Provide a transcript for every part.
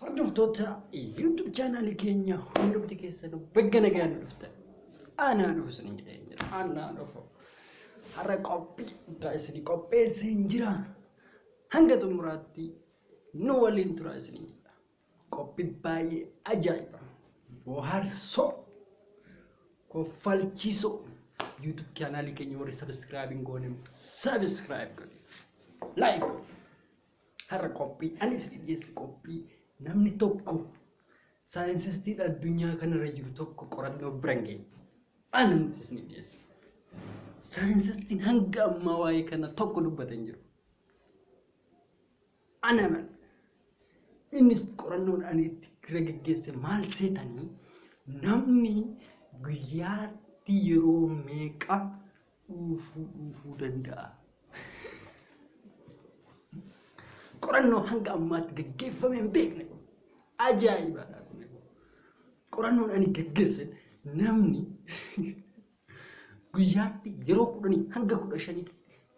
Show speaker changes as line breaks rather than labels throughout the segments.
Hordoftoota YouTube chaanaalii keenya hundumti keessanuu bagga nagaan nu dhuftan. Aanaa dhufu isin jedhee jira. Aanaa dhufu. Har'a qophii guddaa isin qopheessee hin jira. Hanga xumuraatti nu waliin tura isin jedha. Qophii baay'ee ajaa'iba. Bohaarsoo. Koffalchiisoo. YouTube chaanaalii keenya warri sabiskiraayibiin goone sabiskiraayib godhe. Laayik godhe. Har'a qophiin ani isinii dhiyeessu qophii namni tokko saayinsistiidha addunyaa kanarra jiru tokko qorannoo bira hin geenye. Ani nuti isinii dhiyeessu. Saayinsistiin hanga ammaa waa'ee kana tokko dubbate hin jiru. Ana mana. Innis qorannoon ani itti irra geggeesse maal seetanii namni guyyaatti yeroo meeqa dhuufuu dhuufuu danda'a. Qorannoo hanga ammaatti gaggeeffame hin beekne. Ajaa'ibaadha. Qorannoon ani gaggeesse namni guyyaatti yeroo kudhanii hanga kudha shaniitti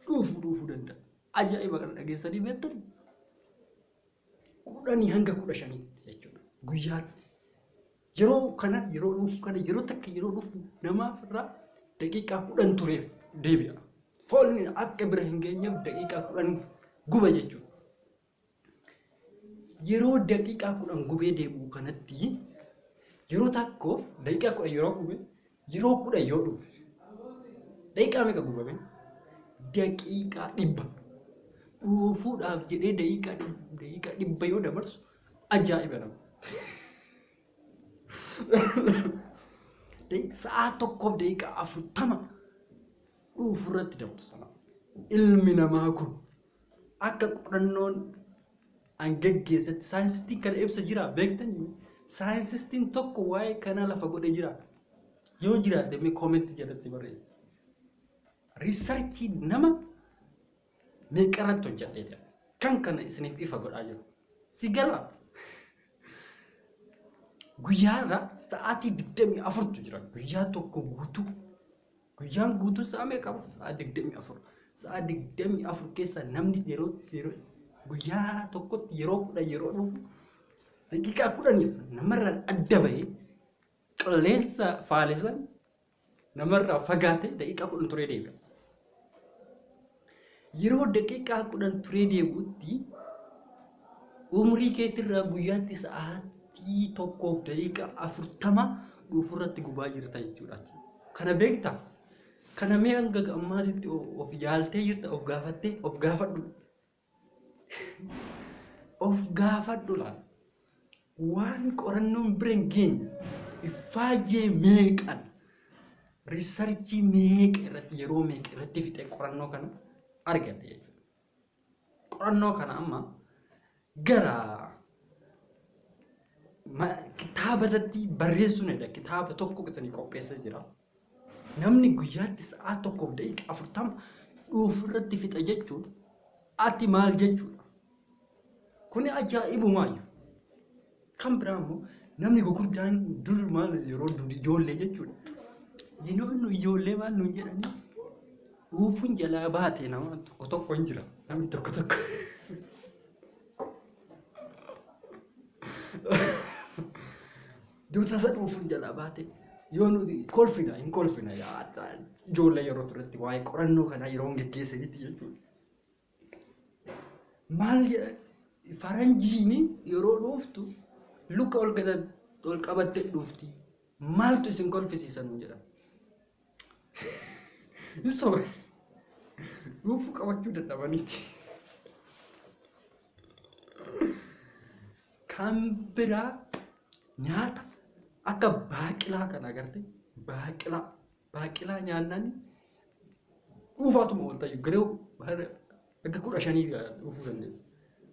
dhuufuu dhuufuu danda'a. Ajaa'iba kana dhageessanii beektan kudhanii hanga kudha shaniitti jechuudha. Guyyaatti Yeroo kana yeroo dhufu kana yeroo takka yeroo dhufu namaaf irraa daqiiqaa kudhan tureef deebi'a. Foolni akka bira hin geenyeef daqiiqaa kudhan guba jechuudha. Yeroo daqiiqaa kudhan gubee deebi'u kanatti yeroo takkoof daqiiqaa kudhan yeroo gube Yeroo kudhan yoo dhufe daqiiqaa meeqa gurgurame? Daqiiqaa dhibba. Dhuufuudhaaf jedhee daqiiqaa dhib- daqiiqaa dhibba yoo dabarsu ajaa'iba nama. Daqiiq- Sa'aa tokkoof daqiiqaa afurtama dhuufuu irratti dabarsa. Ilmi namaa kun akka qorannoon an geggeessetti saayinsistiin kana ibsa jiraa beektanii mee saayinsistiin tokko waa'ee kanaa lafa godhe jiraa yoo jiraate mee koomentii jalatti barreessa riisarchii nama meeqarratti hojjadhee jira kan kana isiniif ifa godhaa jiru si galaa guyyaarra sa'aatii 24tu jira guyyaa tokko guutuu Guyyaan guutuu sa'a meeqa? Sa'a 24. Sa'a 24 keessa namni yeroo yeroo guyyaa tokkotti yeroo kudhan yeroo dhufu daqiiqaa kudhaniif namarraa adda bahee qilleensa faalesan namarraa fagaatee daqiiqaa kudhan turee deebi'a. Yeroo daqiiqaa 10 turee deebi'utti umrii keetirraa guyyaatti sa'aatii 1:40 dhuufurratti gubaa jirta jechuudha. Kana beektaa? Kana mee hanga ammaatitti of yaaltee jirta of gaafattee of gaafadhu. Of gaafadhu laal. waan qorannoon bira hin geenye iffaayyee meeqan riisarchii meeqa irratti yeroo meeqa irratti fixee qorannoo kana argadhe jechuudha. Qorannoo kana amma gara ma- kitaabatatti barreessuun edha kitaaba tokko isanii qopheessa jira. Namni guyyaatti sa'aa 1:40 dhuufu irratti fixa jechuun ati maal jechuudha? Kuni ajaa'ibumaayyu. Kan biraa immoo namni gurguddaan dur maal yeroo dur ijoollee jechuudha. Yeroo nu ijoollee maal nuun jedhanii dhuufuun jalaa baate nama tokko tokko hin jira. Namni tokko tokko. Yoo tasa dhuufuun jalaa baate yoo nuti kolfina hin kolfina yaa ijoollee yeroo turetti waa'ee qorannoo kanaa yeroo hin geggeessanitti jechuudha. Maal jedhan faranjiin yeroo dhuuftu luka ol gala ol qabattee dhuufti maaltu isin kolfisiisan jedhan. Hin sobe. Dhuufuu qabachuu dadhabaniiti. Kan biraa nyaata akka baaqilaa kan agarte baaqilaa baaqilaa nyaannaan dhuufaatuma wanta garuu Akka kudha shanii dhufuu dandeessa.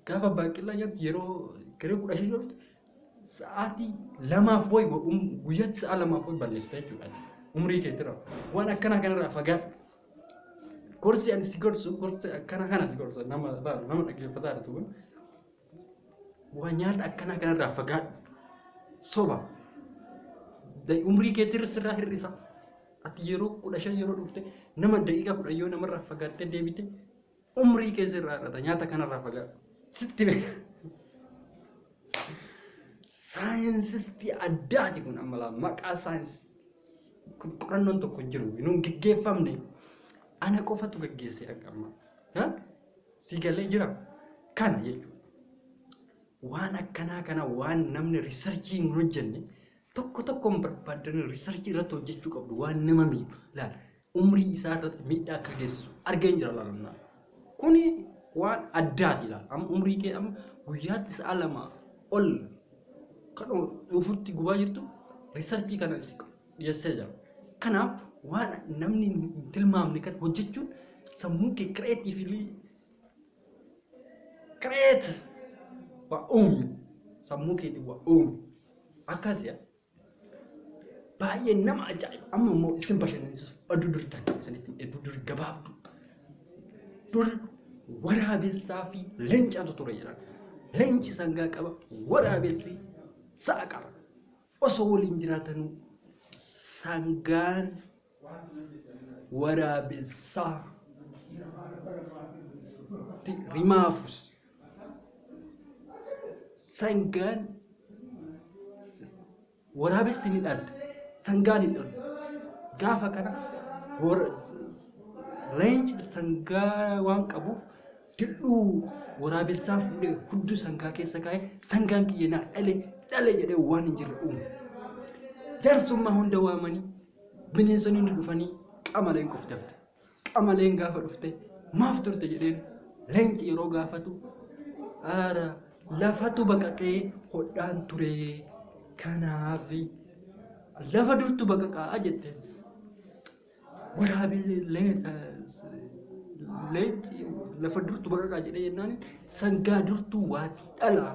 Gaafa baaqilaa nyaattu yeroo garee kudha shanii dhuftu sa'aatii lamaaf wayi guyyaatti sa'a lamaaf wayi balleessita jechuudha. Umrii keetirra waan akkanaa kanarraa fagaadhu. Gorsi ani si gorsu gorsa akkana kana si gorsa nama baala nama dhaggeeffataa jirtu kun Waan nyaata akkanaa kanarraa fagaadhu. Soba. Da- Umrii keetirra sirraa hir'isa. Ati yeroo kudha shan yeroo dhufte nama daqiiqaa kudhan yoo namarraa fagaattee deebite umrii kee sirraa hir'ata. Nyaata kanarraa fagaadhu. Sitti beeka. Saayinsistii addaati kun amma laa maqaa saayinsistii. Kun qorannoon tokko hin jiru. Nuun geggeeffamne. Ana qofatu geggeessee akka amma. Ha? Sii galee jiraa? Kana jechuun waan akkanaa kana waan namni riisarchii hin hojjenne tokko tokkoon barbaaddanii riisarchii irratti hojjechuu qabdu waan nama miidhu laal umrii isaa irratti miidhaa akka geessisu argeen jira laalumnaa kuni waan addaati laal amma umrii kee amma guyyaatti sa'a lama ol kan dhufutti gubaa jirtu riisarchii kana si dhiyessee jira. Kanaaf waan namni hin tilmaamne kan hojjechuun sammuu kee kireetiivili kireet waa uumi sammuu keetiin waa uumi akkas yaa baay'ee nama ajaa'iba amma immoo isin bashannansiisu aduu duri takka isinitti aduu duri gabaabdu duri waraabessaa fi leencaatu ture jedhan leenci sangaa qaba waraabessi sa'a qaba Osoo waliin jiraatanuu sangaan waraabessaa ti rimaafus sangaan waraabessi ni dhalti sangaan hin dhalu gaafa kana wara- leenci sangaa waan qabuuf Dir'uu waraabessaa fuudhee hudduu sangaa keessa kaa'e sangaan kiyya naa dhale dhale jedhee waan hin jirre uume. Jaarsummaa hunda waamanii bineensonni hundi dhufanii qamaleen qoftafte. Qamaleen gaafa dhufte maaf turte jedheen leenci yeroo gaafatu aara lafatu baqaqee hodhaan ture kanaaf lafa durtu baqaqaa jetteen. Waraabee leenci lafa durtu baqaqaa jedhee jennaan sangaa durtuu waati dhalaa.